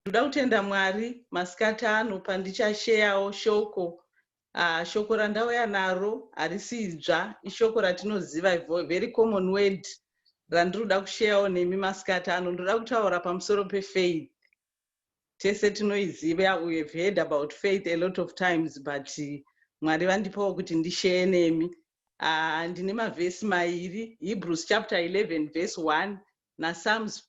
ndoda kutenda mwari masikati ano pandichasheyawo shoko uh, shoko randauya naro harisi idzva ishoko ratinoziva very common word randinoda kusheyawo nemi masikati ano ndoda kutaura pamusoro pefaith tese tinoiziva we have heard about faith a lot of times but mwari vandipawo kuti ndisheye nemi uh, ndine mavhesi mairi hebrews chapter 11 verse 1 napsalms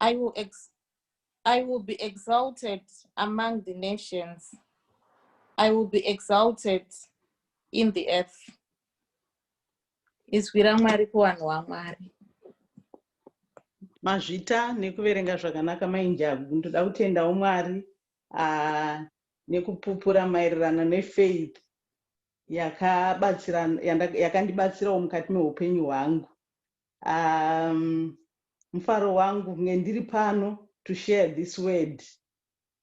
I will, ex I will be exalted among the nations. I will be exalted in the earth. Izwi raMwari kuvanhu vaMwari. Mazvita nekuverenga zvakanaka mainjagu ndoda kutendawo Mwari uh, nekupupura maererano nefaith yakandibatsirawo mukati meupenyu hwangu um, mufaro wangu kunge ndiri pano to share this word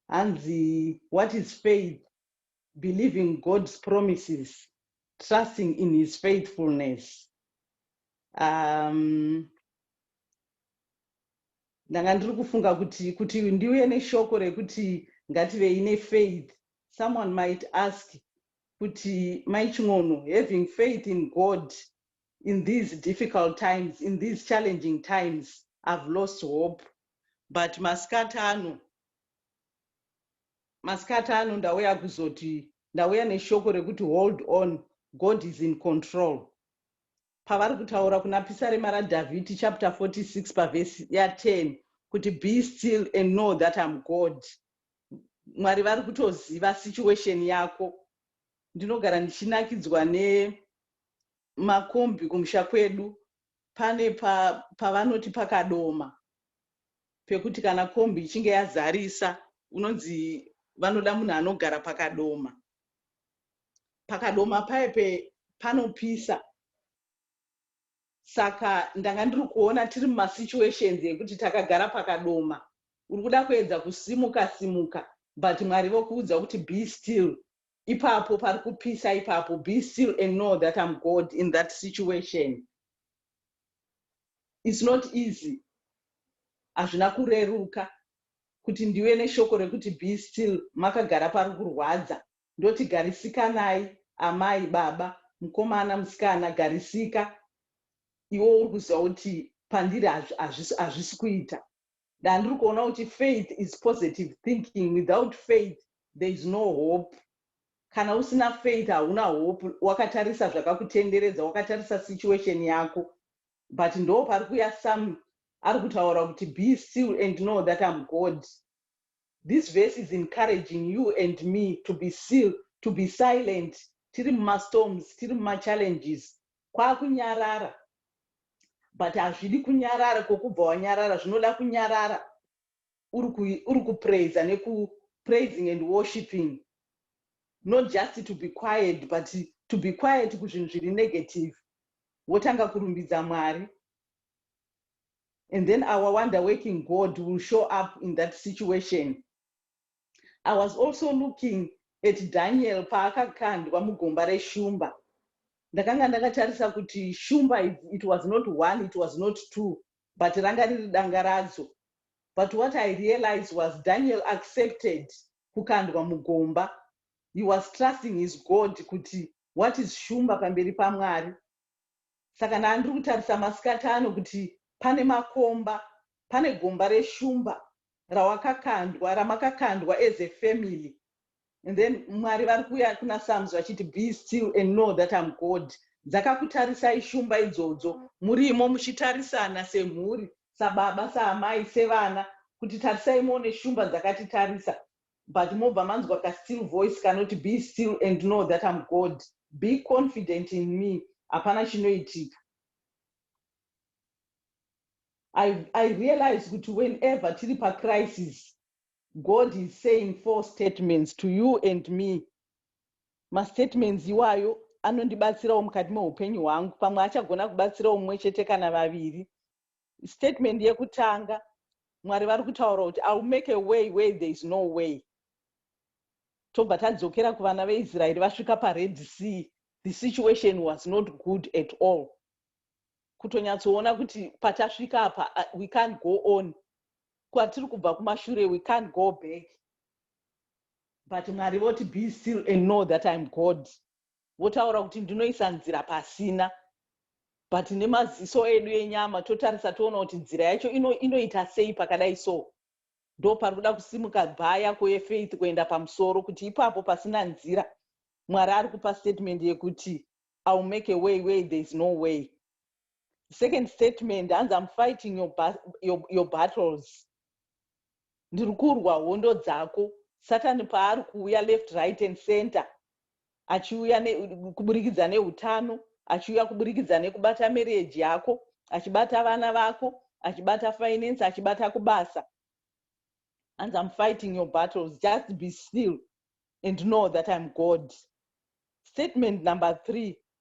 hanzi what is faith believing god's promises trusting in his faithfulness um, ndanga ndiri kufunga kuti kuti ndiuye neshoko rekuti ngativei nefaith someone might ask kuti maiching'ono having faith in god in these difficult times in these challenging times i've lost hope but masikati ano masikati ano ndauya kuzoti ndauya neshoko rekuti hold on god is in control pavari kutaura kuna pisarema radhavhidhi chapter 46 pavhesi ya10 kuti be still and know that am god mwari vari kutoziva situation yako ndinogara ndichinakidzwa ne makombi kumusha kwedu pane pavanoti pa pakadoma pekuti kana kombi ichinge yazarisa unonzi vanoda munhu anogara pakadoma pakadoma paye pe panopisa saka ndanga ndiri kuona tiri mumasituations ekuti takagara pakadoma uri kuda kuedza kusimuka simuka but mwari vokuudza kuti be still ipapo pari kupisa ipapo be still and know that im god in that situation its not easy hazvina kureruka kuti ndiwe neshoko rekuti be still makagara pari kurwadza ndoti garisikanai amai baba mukomana musikana garisika iwo uri kuziva kuti pandiri hazvisi kuita ndandiri kuona kuti faith is positive thinking without faith there is no hope kana usina faith hauna hope wakatarisa zvakakutenderedza wakatarisa situation yako but ndo pari kuya some ari kutaura kuti be still and know that am god this verse is encouraging you and me to be still to be silent tiri mumastorms tiri mumachallenges kwakunyarara but hazvidi kunyarara kwokubva wanyarara zvinoda kunyarara uri kupraiza nekupraising and worshipping not just to be quiet but to be quiet kuzvinhu zviri negative wotanga kurumbidza mwari and then our wonder working god will show up in that situation I was also looking at Daniel paakakandwa mugomba reshumba. Ndakanga ndakatarisa kuti shumba it was not one, it was not two, but ranga riri danga radzo. But what I realized was Daniel accepted kukandwa mugomba. He was trusting his God kuti what is shumba pamberi paMwari. Saka ndaa ndiri kutarisa masikati ano kuti pane makomba, pane gomba reshumba rawakakandwa, ramakakandwa as a family and then Mwari vari kuuya kuna Psalms vachiti be still and know that I'm God. Dzakakutarisai shumba idzodzo murimo muchitarisana semhuri, sababa, saamai, sevana kuti tarisai muone shumba dzakatitarisa but mobva manzwa ka still voice kanoti be still and know that I'm God be confident in me hapana chinoitika I, I realize kuti whenever tiri pacrisis God is saying four statements to you and me mastatements iwayo anondibatsirawo mukati meupenyu hwangu pamwe achagona kubatsira umwe chete kana vaviri statement yekutanga mwari vari kutaura kuti iwill make a way where there is no way tobva tadzokera kuvana veisraeri vasvika pared sea the situation was not good at all kutonyatsoona kuti patasvika apa uh, we can't go on kwatiri kubva kumashure we can't go back but mwari voti be still and know that iam god Votaura kuti ndinoisa nzira pasina but nemaziso edu enyama totarisa toona kuti nzira yacho inoita ino sei pakadai so ndo pari kuda kusimuka bhaa yako yefaith kuenda pamusoro kuti ipapo pasina nzira mwari ari kupa statement yekuti ill make a way way there is no way second statement hanzi am fighting your, your, your battles ndiri kurwa hondo dzako satani paari kuuya left right and center achiuya kuburikidza neutano achiuya kuburikidza nekubata mereji yako achibata vana vako achibata finance achibata kubasa and i'm fighting your battles just be still and know that i'm god statement number three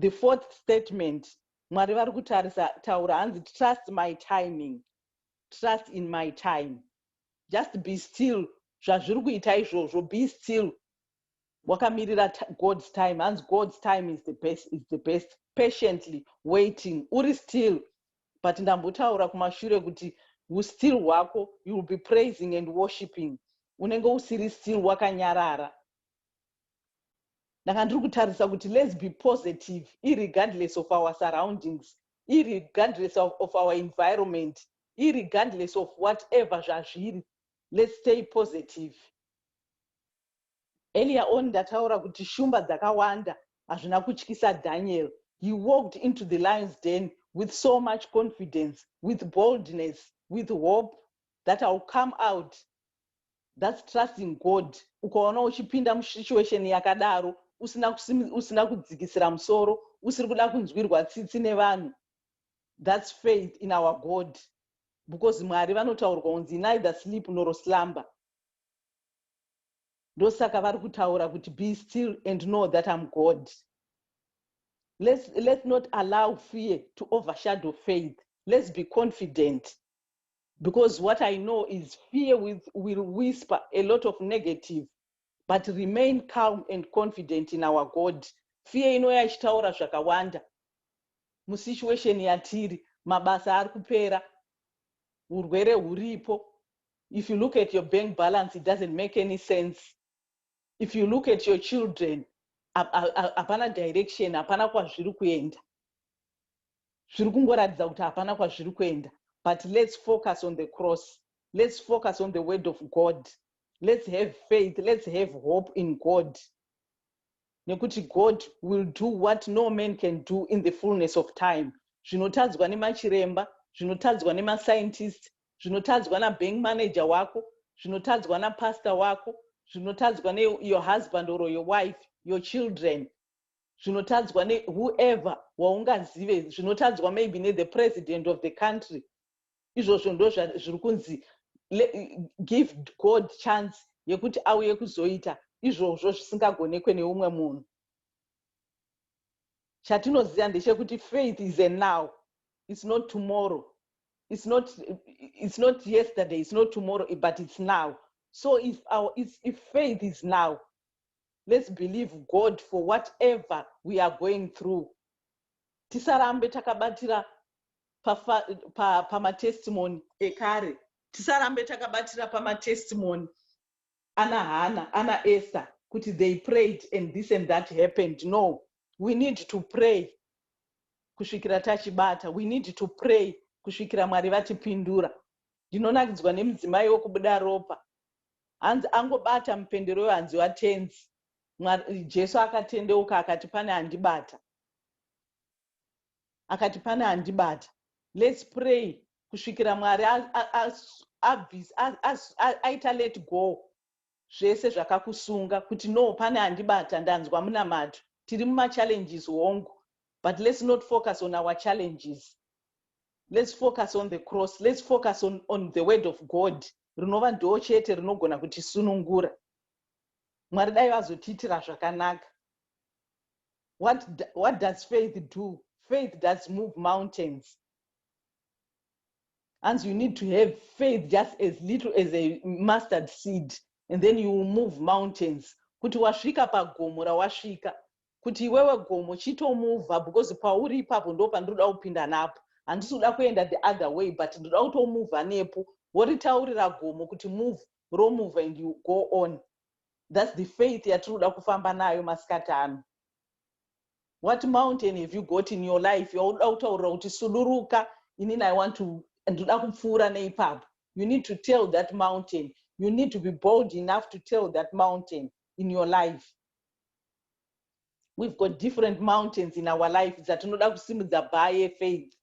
the fourth statement mwari vari kutarisa taura hanzi trust my timing trust in my time just be still zvazviri kuita izvozvo be still wakamirira god's time hanzi god's time is the best is the best patiently waiting uri still but ndambotaura kumashure kuti ustill hwako you will be praising and worshipping unenge usiri still wakanyarara ndanga ndiri kutarisa kuti let's be positive irregardless of our surroundings irregardless of, of our environment irregardless of whatever zvazviri let's stay positive earlier on ndataura kuti shumba dzakawanda hazvina kutyisa daniel he walked into the lions den with so much confidence with boldness with hope that iwill come out thats trusting god ukaona uchipinda musituation yakadaro usina, usina kudzikisira musoro usiri kuda kunzwirwa tsitsi nevanhu thats faith in our god because mwari vanotaurwa unzi neither sleep nor slumber ndosaka vari kutaura kuti be still and know that im god let's, let's not allow fear to overshadow faith let's be confident Because what I know is fear with, will whisper a lot of negative but remain calm and confident in our God. Fear inouya ichitaura zvakawanda musituation yatiri, mabasa ari kupera, urwere huripo. If you look at your bank balance, it doesn't make any sense. If you look at your children, hapana direction, hapana kwazviri kuenda. zviri kungoratidza kuti hapana kwazviri kuenda but let's focus on the cross let's focus on the word of god let's have faith let's have hope in god nekuti god will do what no man can do in the fullness of time zvinotadzwa nemachiremba zvinotadzwa nemascientist zvinotadzwa nabank manager wako zvinotadzwa napastor wako zvinotadzwa neyour husband or your wife your children zvinotadzwa ne whoever waungazive zvinotadzwa maybe ne the president of the country izvozvo ndo zviri kunzi give god chance yekuti auye kuzoita izvozvo zvisingagonekwe neumwe munhu chatinoziva ndechekuti faith is a now its not tomorrow its not, it's not yesterday its not tomorrow but its now so if, our, if faith is now let's believe god for whatever we are going through tisarambe takabatira pamatestimony pa, pa ekare tisarambe takabatira pamatestimony ana hana ana esther kuti they prayed and this and that happened no we need to pray kusvikira tachibata we need to pray kusvikira mwari vatipindura ndinonakidzwa nemudzimai wekubuda ropa Hanzi angobata mupendero uyo hanziwa tenzi. Mwari, Jesu akatendeuka akati pane andibata. Akati pane andibata. Let's pray kusvikira Mwari aita let go zvese zvakakusunga kuti no pane andibata ndanzwa munamato tiri mumachallenges hongu but let's not focus on our challenges let's focus on the cross let's focus on, on the word of god rinova ndoo chete rinogona kutisunungura mwari dai vazotiitira zvakanaka what, what does faith do faith does move mountains and you need to have faith just as little as a mustard seed and then you will move mountains kuti wasvika pagomo rawasvika kuti iwewe gomo chitomuvha because pauri ipapo ndo pandinoda kupinda napo handisi kuda kuenda the other way but ndoda kutomuvha nepo woritaurira gomo kuti move romuvha and you go on thats the faith yatiri kuda kufamba nayo masikati ano what mountain have you got in your life yaunoda kutaurira kuti suduruka inini i want to ndoda kupfuura neipapo you need to tell that mountain you need to be bold enough to tell that mountain in your life we've got different mountains in our life dzatinoda kusimudza by yefaith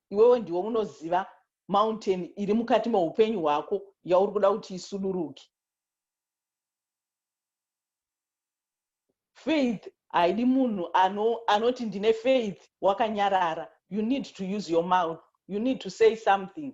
iwewe ndiwe unoziva mountain iri mukati meupenyu hwako yauri kuda kuti isuduruke faith haidi munhu anoti ndine faith wakanyarara you need to use your mouth you need to say something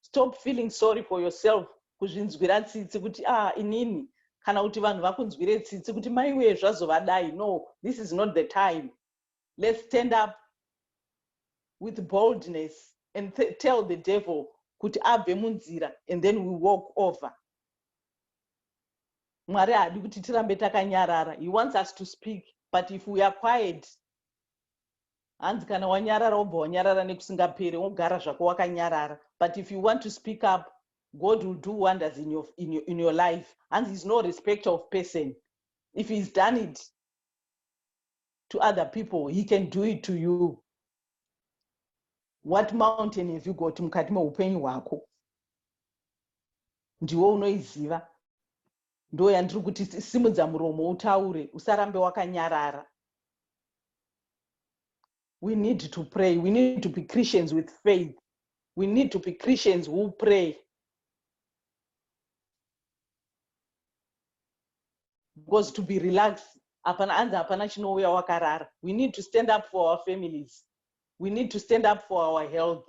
stop feeling sorry for yourself kuzvinzwira tsitsi kuti ah inini kana kuti vanhu vakunzwire tsitsi kuti maiwee zvazovadai no this is not the time let's stand up with boldness and tell the devil kuti abve munzira and then we walk over mwari haadi kuti tirambe takanyarara he wants us to speak but if we are quiet hanzi kana wanyarara wobva wanyarara nekusingapere wogara zvako wakanyarara but if you want to speak up god will do wonders in your, in your, in your life hanzi he's no respect of person if he's done it to other people he can do it to you what mountain have you got mukati meupenyu hwako ndiwo unoiziva Ndoo yandiri kuti simudza muromo utaure usarambe wakanyarara. We need to pray. We need to be Christians with faith. We need to be Christians who pray. Because to be relaxed, hapana anzi hapana chinouya wakarara. We need to stand up for our families. We need to stand up for our health.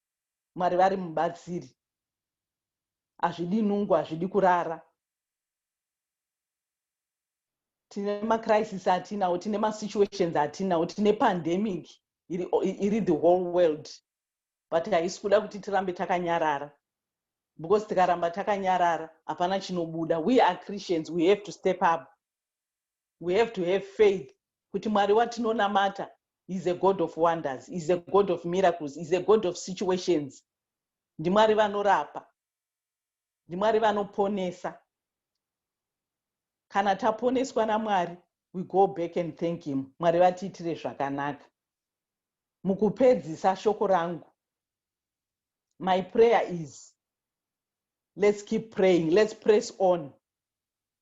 Mwari vari mubatsiri. Hazvidi nungo, hazvidi kurara. Tine macrisis atinawo, tine masituations atinawo, tine pandemic iri, iri the whole world but haisi kuda kuti tirambe takanyarara because tikaramba takanyarara hapana chinobuda we are christians we have to step up We have to have faith kuti Mwari watinonamata is a God of wonders, is a God of miracles, is a God of situations. NdiMwari vanorapa. NdiMwari vanoponesa. Kana taponeswa naMwari, we go back and thank him. Mwari vatiitire zvakanaka. Mukupedzisa shoko rangu. My prayer is let's keep praying, let's press on.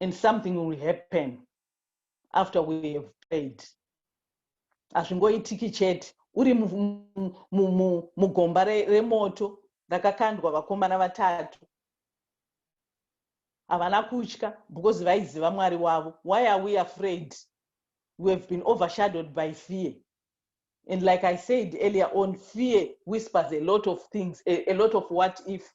and something will happen after we have prayed hazvingoitiki chete uri mugomba remoto rakakandwa vakomana vatatu havana kutya because vaiziva mwari wavo why are we afraid we have been overshadowed by fear and like i said earlier on fear whispers a lot of things a, a lot of what if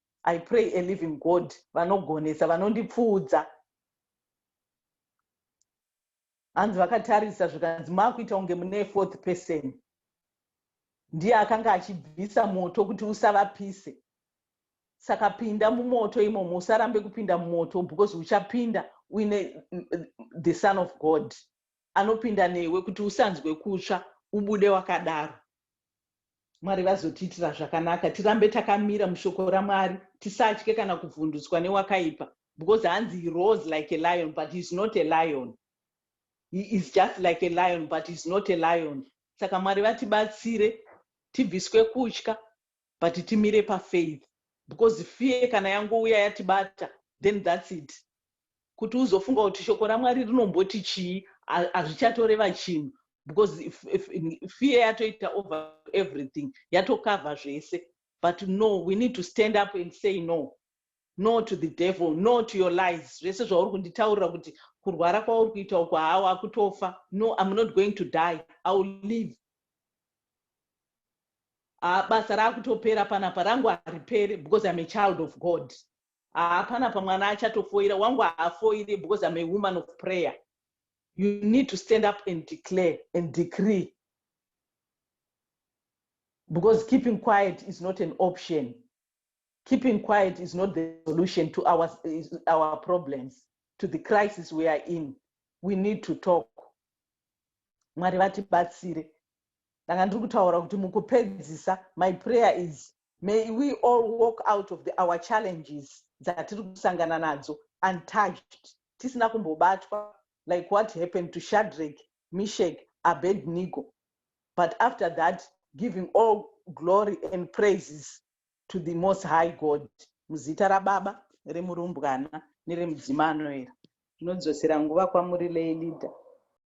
i pray a living god vanogonesa vanondipfuudza hanzi vakatarisa zvikanzi maakuita kunge mune fourth person ndiye akanga achibvisa moto kuti usavapise saka pinda mumoto imomo usarambe kupinda mumoto because uchapinda uine the son of god anopinda newe kuti usanzwe kutsva ubude wakadaro mwari vazotiitira zvakanaka tirambe takamira mushoko ramwari tisatye kana kuvhundutswa newakaipa because hanzi he rose like a lion but heis not a lion he is just like a lion but heis not a lion saka mwari vatibatsire tibviswe kutya but timire pafaith because fear kana yangouya yatibata then thats it kuti uzofunga kuti shoko ramwari rinomboti chii hazvichatoreva chinhu because if, if, if fear yatoita over everything yatokavha zvese but no we need to stand up and say no no to the devil no to your lies zvese zvauri kunditaurira kuti kurwara kwauri kuita uko haa wakutofa no im not going to die i will live haa basa raakutopera panapa rangu haripere because im a child of god haa panapa mwana achatofoira wangu haafoire because im a woman of prayer you need to stand up and declare and decree because keeping quiet is not an option keeping quiet is not the solution to our, our problems to the crisis we are in we need to talk mwari vatibatsire ndanga ndiri kutaura kuti mukupedzisa my prayer is may we all walk out of the, our challenges dzatiri kusangana nadzo untouched tisina kumbobatwa like what happened to shadrack Mishek, Abednigo but after that giving all glory and praises to the most high God muzita rababa remurumbwana neremudzima anoera. Tinodzosera nguva kwamuri lay leader.